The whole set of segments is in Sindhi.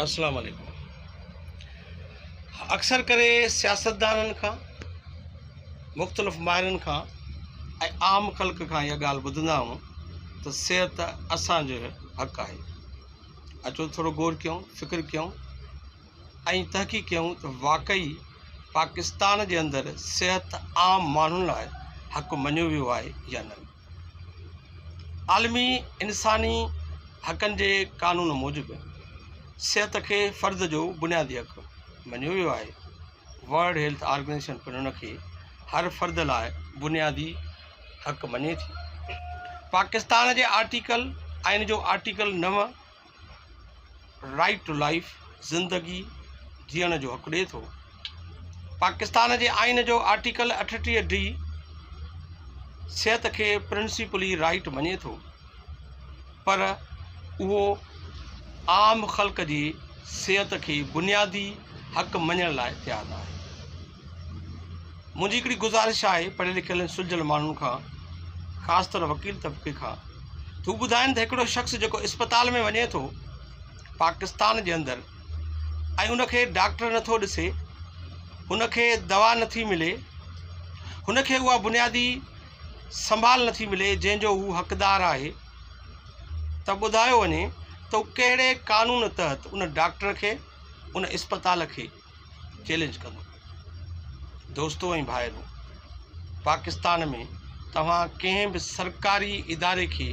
السلام عليڪم اڪثر ڪري سياستدانن کان مختلف ماهرن کان ۽ عام خلق کان اها ڳالهه ٻڌندا آهيون ته صحت اسانجو حق آهي اچو ٿورو غور ڪيون فڪر ڪيون ۽ تحقيق ڪيون ته واقعي پاڪستان جي اندر صحت عام ماڻهن لاء حق مڃيو ويو آهي يا نه عالمي انساني حقن جي قانون موجب صحت کي فرد جو بنيادي حق مڃيو ويو آهي. ورلڊ هيلٿ آرگنائيزيشن پڻ ان کي هر فرد لاء بنيادي حق مڃي ٿي. پاڪستان جي آرٽيڪل آئين جو آرٽيڪل نو رائيٽ ٽو لائيف، زندگي جيئڻ جو حق ڏئي ٿو. پاڪستان جي آئين جو آرٽيڪل اٺٽيهه ڊي صحت کي پرنسيپلي رائيٽ مڃي ٿو پر اهو عام خلق جي صحت کي بنيادي حق مڃڻ لاء تيار ناهي. منهنجي هڪڙي گذارش آهي پڙهيل لکيل ۽ سلجهيل ماڻهن کان خاص طور وڪيل طبقي کان ته هو ٻڌائن ته هڪڙو شخص جيڪو اسپتال ۾ وڃي ٿو پاڪستان جي اندر ۽ ان کي ڊاڪٽر نه ٿو ڏسي هن کي دوا نه ٿي ملي هن کي اها بنيادي سنڀال نه ٿي ملي جنهن جو هو حقدار آهي ته ٻڌايو وڃي ته هو ڪهڙي قانون تحت ان ڊاڪٽر کي ان اسپتال کي چئلينج ڪندو. دوستو ۽ ڀائرو! پاڪستان ۾ توهان ڪنهن به سرڪاري اداري کي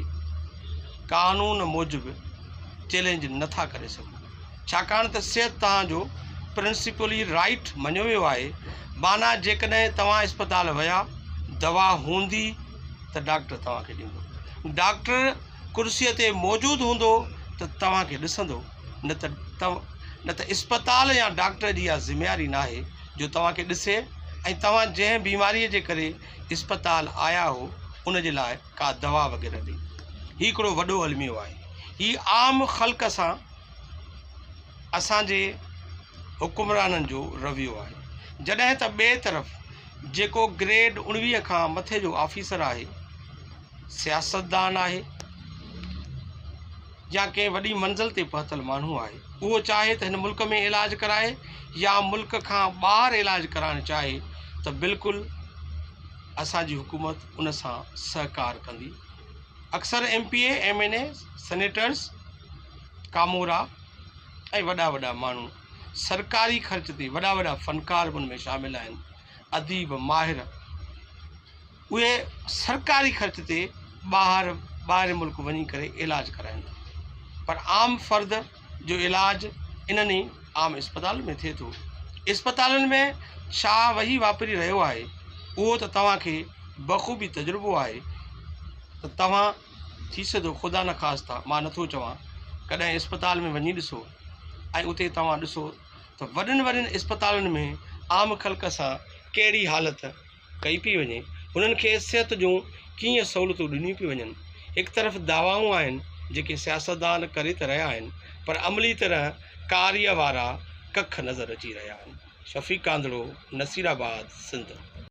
قانون موجب چئلينج نه ٿا ڪري سگهو ڇاڪاڻ ته صحت توهان جو پرنسپلي رائيٽ مڃيو ويو آهي معنيٰ جيڪڏهن توهان اسپتال ويا دوا هوندي ته ڊاڪٽر توهان کي ڏيندو ڊاڪٽر ڪرسي تي موجود هوندو ته توهان کي ڏسندو نه ته نه ته اسپتال يا ڊاڪٽر جي اها ذميواري ناهي جو توهان کي ڏسي ۽ توهان جنهن بيماريء جي ڪري اسپتال آيا هو ان جي لاء ڪا دوا وغيره ڏي. هي هڪڙو وڏو الميو آهي. هي عام خلق سان اسان جي حڪمرانن جو رويو آهي. جڏهن ته ٻئي طرف جيڪو گريڊ اڻويهه کان مٿي جو آفيسر آهي، سياستدان آهي. يا ڪنهن وڏي منزل تي پهتل ماڻهو آهي اهو چاهي ته هن ملڪ ۾ علاج ڪرائي يا ملڪ کان ٻاهر علاج ڪرائڻ چاهي ته بلڪل اسان جي حڪومت ان سان سهڪار ڪندي اڪثر M P A M N A senators ڪامورا ۽ وڏا وڏا ماڻهو سرڪاري خرچ تي وڏا وڏا فنڪار به ان ۾ شامل آهن اديب ماهر اهي سرڪاري خرچ تي ٻاهر ٻاهرين ملڪ وڃي ڪري علاج ڪرائين ٿا پر عام فرد جو علاج انهن ئي عام اسپتالن ۾ ٿئي ٿو اسپتالن ۾ ڇا وهي واپري رهيو آهي اهو ته توهان کي بخوبي تجربو آهي ته توهان ٿي سڌو خدا نخواسته مان نٿو چوان ڪڏهن اسپتال ۾ وڃي ڏسو ۽ اتي توهان ڏسو ته وڏين وڏين اسپتالن ۾ عام خلق سان ڪهڙي حالت ڪئي پئي وڃي، انهن کي صحت جون ڪيئن سهولتون ڏنيون پيون وڃن. هڪ طرف دعوائون آهن جيڪي سياستدان ڪري ته رهيا آهن پر عملي طرح ڪاريه وارا ڪک نظر اچي رهيا آهن. شفيق ڪانڌڙو، نصيرآباد، سنڌ.